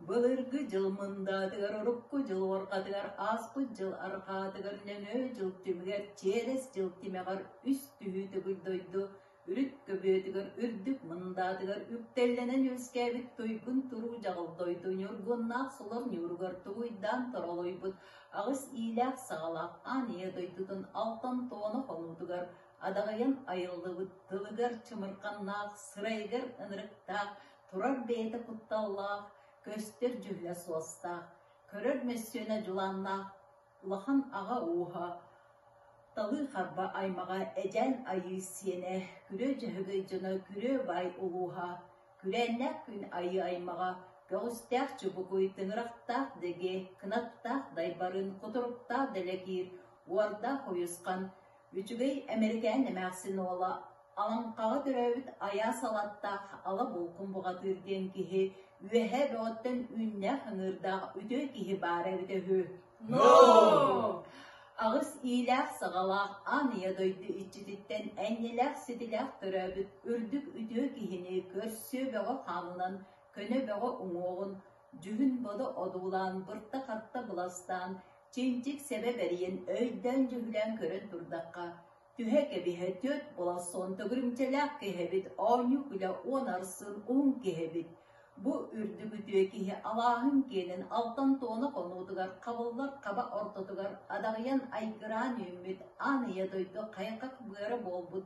Былыргы дьыл мындаатыгар урукку дьыл уорҕатыгар ааспыт дьыл арҕаатыгар нөҥүө дьыл түмүгэр Чиэрэс дьыл тимэҕэр үс түһүү төгүл дойду үрүт көбүөтүгэр үрдүк мындаатыгар үктэллэнэн үөскээбит туйгун туруу дьаҕыл дойду ньургуннаах солор ньууругар тугуйдаан торолойбут аҕыс иилээх-саҕалаах аан ийэ дойдутун алтан туона хонуутугар адаҕайан айыллыбыт тылыгар чымырханнаах сырайыгар ынырыктаах Турар бэйэтэ кутталлаах, көстөр дьүһүнэ суостаах, көрөр мөссүөнэ дьулааннаах улахан аҕа ууһа, талыы харба аймаҕа Эдьээн Айыы сиэнэ, күрүө дьөһөгөй дьоно күрүө баай улууһа, күрээннээх күн айыы аймаҕа көҕүстээх чубукуй тыҥырахтаах дэгэ кынаттаах дайбарын кутуруктаах дэлэкиир уордаах уйусхан Үчүгэй Эмэрикээн эмээхсин уола, Алаҥхаҕа төрөөбүт айаас алаттаах ала булкун бухатыыр диэн киһи үөһээ бөҕөттөн үүннээх ыҥыырдаах үтүө киһи баара эбитэ үһү. No! Аҕыс иилээх-саҕалаах аан ийэ дойду иччититтэн энньэлээх-ситилээх төрөөбүт үрдүк үтүө киһини көрсүө бөҕө хаанынан көнө бөҕө уҥуоҕун Дьүһүн Бодо одуулаан, бырта-хатта быластаан, чинчик сэбэ бэрийэн өйдөөн-дьүһүлээн көрөн турдахха, түһэ кэбиһэ түөрт болоссон төгүрүмчэлээх киһибит оонньуу-күлэ уон арсын уһун киһибит, бу үрдүк үтүө киһи алааһын киэнин алтан туона хонуутугар хабыллар хаба ортотугар адаҕыйан айгыраан үүммүт аан ийэ дойду хайҕах быара буолбут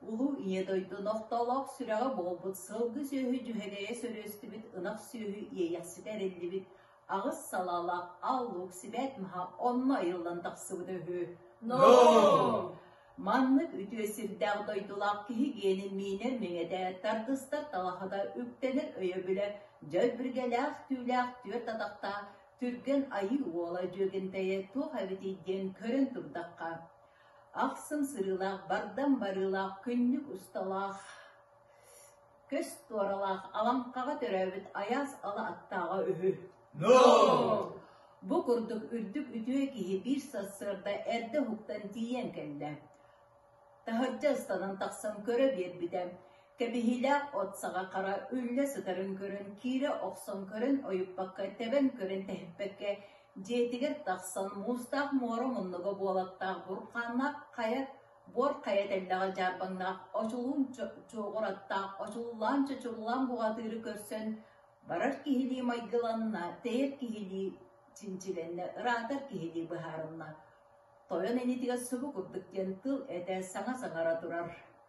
Улуу Ийэ дойду нохтолоох сүрэҕэ буолбут сылгы-сүөһү дьүһэлэйэ сөрүөстүбүт ынах сүөһү иэйэхситэ эриллибит аҕыс салаалаах аал-луук сибээс маһа онно айыллан тахсыбыта үһү. Ноо! Маннык үтүө сирдээх дойдулаах киһи гиэнин миинэр миҥэтэ, тардыстар талахата үктэнэр өйөбүлэ дьөл биргэлээх түүлээх түөрт атахтаах түргэн айыы уола дьүөгэнтэйэ туох эбитий диэн көрөн турдахха Ахсым сырыылаах, бардам барыылаах, күннүк усталаах, көс туоралаах, Алаҥкаҕа төрөөбүт айаас ала аттааҕа үһү. Бу курдук үрдүк үтүө киһи биир сарсыарда эрдэ уһуктан тиийэн кэллэ. Таһырдьа ыстанан тахсан көрө биэрбитэ. Кэбиһиилээх от саҕа хара үллэ сытарын көрөн, киирэ охсон көрөн ойуппакка, тэбэн көрөн тэһиппэккэ Дьиэтигэр тахсан муустаах муора муннуга буолаттаах бурҕааннаах хайа буор хайа тэллэҕэ дьаарбаҥнаах очулуун чуоҕур аттаах очуллаан чочуллаан буҕатыыры көрсөн барар киһилии майгыланна, тэйэр киһилии чинчилэннэ, ыраатар киһилии быһаарынна. Тойон инитигэр субу курдук диэн тыл этэ саҥа саҥара турар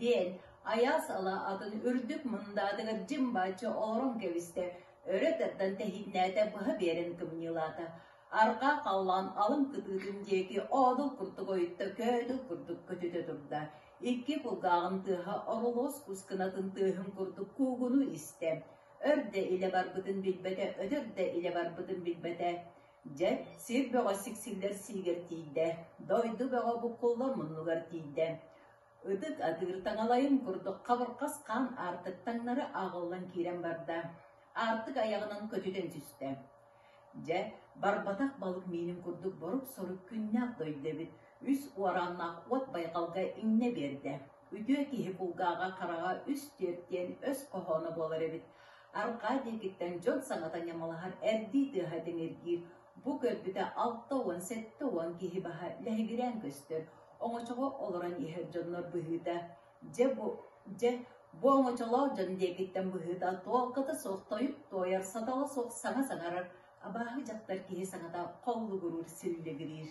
диэн айаас ала атын үрдүк мындаатыгар дьим-бачча олорон кэбистэ өрө тардан тэһииннээтэ быһа биэрэн кымньыылаата арҕаа халлаан алын кытыытын диэки оодул курдук ойутта көөдүл курдук көтүтэ турда икки кулгааҕын тыаһа оролуос кускынатын тыаһын курдук куугуну истэ өр да илэ барбытын билбэтэ өтөр да илэ барбытын билбэтэ Дьэ, сир бөҕө сиксиллэр сиигэр тиийдэ, дойду бөҕө буккулла муннугар тиийдэ. Ытык атыыр таҥалайын курдук хабырҕас хаан аартык таҥнары ааҕыллан киирэн барда. Аартык айаҕынан көтүтэн түстэ. Дьэ, барбатах балык миинин курдук борук-сорук күннээх дойду эбит, үс уорааннаах уот байҕалга иҥнэ биэрдэ. Үтүө киһи кулгааҕа хараҕа үс-түөрт диэн өс хоһооно буолар эбит. Арҕаа диэкиттэн дьон саҥата ньамалаһар эрдии тыаһа тиҥиргиир, бу көрбүтэ алта уон, сэттэ уон киһи баһа лэһигирээн көстөр, оҥочоҕо олорон иһэр дьоннор быһыыта, дьэ бу дьэ бу оҥочолоох дьон диэкиттэн быһыыта туолката суох тойук туойар сатала суох саҥа саҥарар абааһы дьахтар киһи саҥата холлугуруур силлигириир.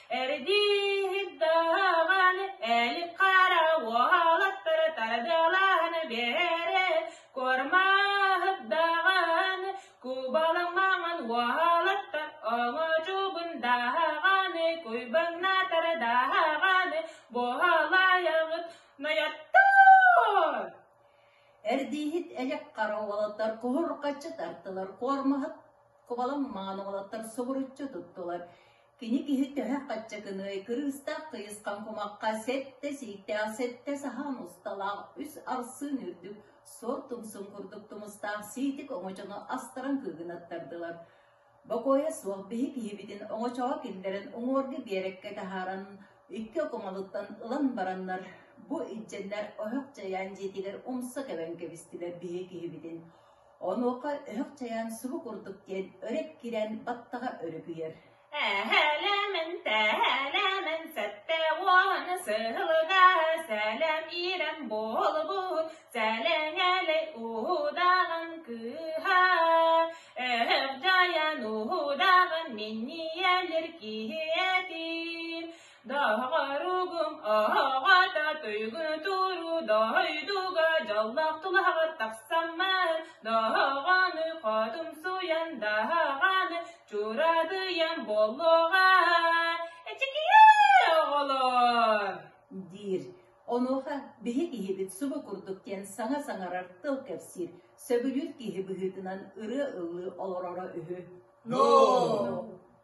Эрдииһит даҕан ээлик хара уолаттары тардылаан биэрэ кормаһыт даҕан кубалаҥ маҥан уолаттар оҥочубун даҕан куйбаҥнаатар даҕан буолаайаҕыт нойоттор Эрдииһит эдьэк хара уолаттар куһурҕаччы тартылар куормаһыт кубалаҥ маҥан уолаттар субуруччу туттулар Кини киһи төһө хаччакыный, кырыыстаах тыйысхан кумахха сэттэ сииктээх сэттэ саһаан усталаах үс арсыын үрдүк суор тумсун курдук тумустаах сиитик оҥочону астаран кыыгынаттардылар. Бокуойа суох биһи киһибитин оҥочоҕо киллэрэн уҥуорга биэрэккэ таһааран икки окумалыттан ылан бараннар бу иччэннэр оһох дьайаан дьиэтигэр умса кэбэн кэбистилэр биһи киһибитин Онуоха өһөх чайаан субу курдук диэн өрүт кирэн баттаҕа өрүкүйэр Эһэлэмэн, тэһэлэмэн, сэтте уон сыһылга сэлэм иирэн буолбут сэлэҥэлэй уһудаҕан кыыһа өһөх дьайан уһудаҕан минниэлэр киһи этиир Дааҕаругум оҕоҕото туйгу туруу дойдуга дьоллоох тулаҕар тахсаммар доҕоҕону хотумсуйан даҕаны чурадыйан буолуоҕа эчикиэ оҕолор диир онуоха биһи киһибит субу курдук диэн саҥа саҥарар тыл кэпсиир сөбүлүүр киһи быһыытынан ырыа ылыы олороро үһү ноо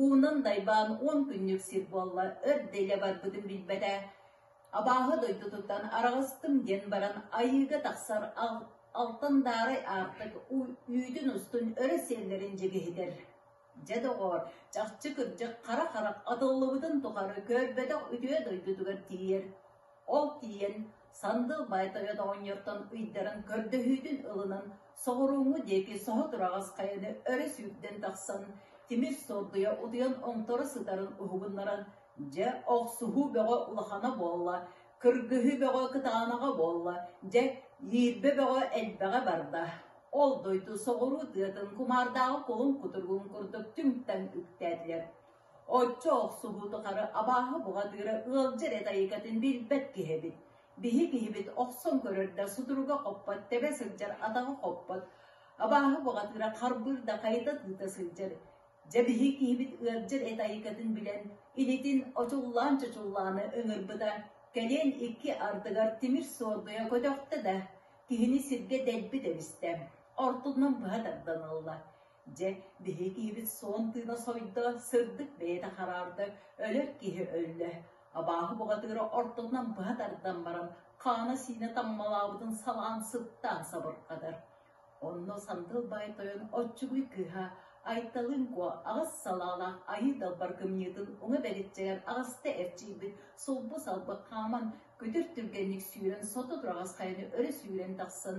Уунан дайбаан уон күннүк сир буолла, өр да илэ барбытын билбэтэ, абааһы дойдутуттан араҕыстым диэн баран айыыга тахсар алтандаарай аартык үүтүн-устун өрө сиэллэрин дьигиһитэр. Дьэ доҕоор, чахчы кырдьык хара харах атыллыбытын тухары көрбөтөх үтүө дойдутугар тиийэр Ол тиийэн Сандыл Байтабет оҕонньортон ыйдаран көрдөһүүтүн ылынан соҕурууҥҥу диэки соһутураҕас хайаны өрө сүүрдэн тахсан тимир суордуйа утуйан оҥторо сытарын уһугуннаран дьэ охсуһуу бөҕө улахана буолла кыргыһыы бөҕө кытаанаҕа буолла дьэ иирбэ бөҕө элбэҕэ барда ол дойду соҕуруу тыатын кумаардааҕы кулун кутуругун курдук түҥ-таҥ үктээтилэр Оччо охсуһуу тухары абааһы буҕатыыра ыалдьа эрэ тайыкатын билбэт киһи эбит. Биһи киһибит охсон көрөр да сутуруга хоппот, тэбэ сылдьар атаҕа хоппот. Абааһы буҕатыыра харбыыр да хайыта тыыта сылдьар. Дьэ биһи киһибит ыалдьар эт айыкатын билэн, илитин очуллаан-чочуллаана ыҥырбыта, кэлин икки ардыгар тимир суордуйа көтөхтө да, киһини сиргэ дэлби тэбистэ, ортотунан быһа тардан ылла. Дьэ, биһикиибит суон тыына сойдо, сырдык бэйэтэ хараарда, өлөр киһи өллө. Абааһы бухатыыра ортотунан быһа тардан баран, хаана-сиинэ таммалаабытын салаан сыттаан сабырҕатар. Онно Сандыл Баай Тойон оччугуй кыыһа Айталыҥко аҕыс салаалаах айыы далбар кымньыытын уҥа бэличчэгэр аҕыста эрчийбит сулбу-салбы хааман, күтүр түргэнник сүүрэн сото тураҕас хайаны өрө сүүрэн тахсан,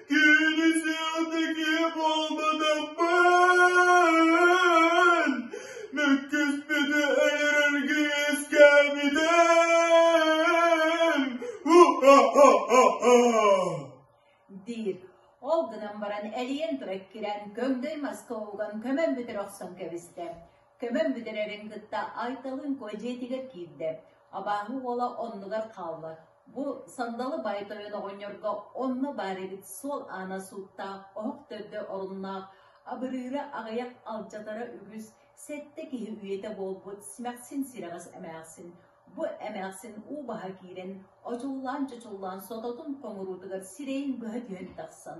Кини сыалтыки буолбутуммун мөккүспүтү өлөрөргө үөскээбитим. диир. Ол гынан баран эрийэн тура кирэн көрдөй маска уган көмөн бүтэр охсон кэбистэ. Көмөн бүтэрэрин кытта Айталыын куо дьиэтигэр киирдэ. Абааһы уола оннугар хаалла. Бу сандалы бай тойон оҕонньорго онно баар эбит суол аана сууттаах, оһох төрдө оруннаах, абырыыра аҕыйах алдьатара үгүс, сэттэ киһи үйэтэ буолбут симэхсин сирэҕэс эмээхсин, бу эмээхсин уу баһа киирэн, очуллаан-чочуллаан сототун хоҥуруутугар сирэйин быһа түһэн тахсан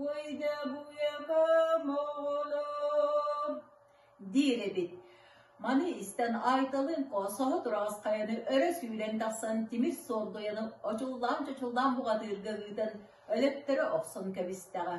Уйдабыйакам оҕолор диир эбит. Маны истэн Айталыын Коосоһо Тураҕасхайаны өрө сүүрэн тахсан тимир суолдуйаны очуллаан-чочуллаан буҕатыырга ыытан өлөттөрө охсон кэбистэҕэ.